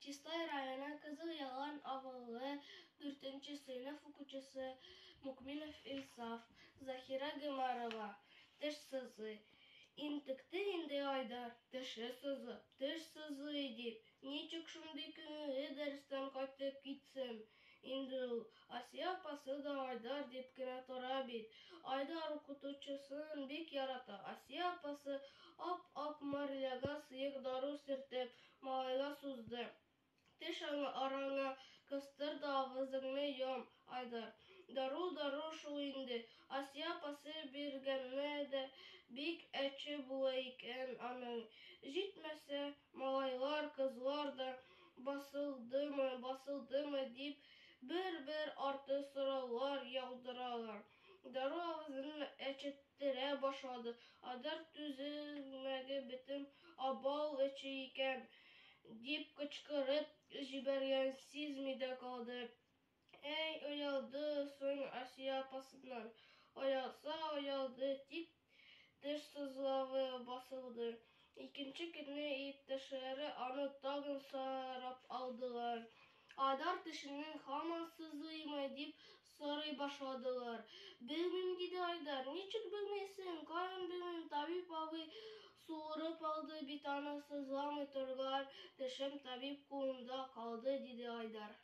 Чистай районы Кызыл Ялан авылы дүртенче сыйныф укучысы Мукминов Илсаф, Заһирә Гомәрова, теш сызый. Интекте инде Айдар, теше сызып, теш сызый дип. Ничек шундый күңелле дәрестән кайтып китсен? Инде ул, Асия апасы да Айдар дип кенә тора бит. Айдар укытучысын бик ярата. Асия апасы ап-ак марляга сыек дару сөртеп, малайга сузды. Теш аңа, араңа кыстыр да авызыңны йом, Айдар. Дару дару шул инде. Асия апасы биргәнне дә бик әче була икән аның. Җитмәсә, Малайлар, кызлар да басылдымы, басылдымы дип, бер-бер арты сораулар яудыралар. Дару авызын әчеттерә башлады. Айдар түзелмәге бетен абау эче икән, дип кычкырып җибәргән сизми дә калды. Әй, оялды соң Асия апасыннан. Оялса оялды, дип, теш сызлавы басылды. Икенче көнне иптәшләре аны тагын сорап алдылар. Айдар тешеннән һаман сызлыймы, дип сорый башладылар. Белмим, диде Айдар. Ничек белмисең, каян белмим, табиб абый суырып алды бит аны, сызламый торган тешем табиб кулында калды, диде Айдар.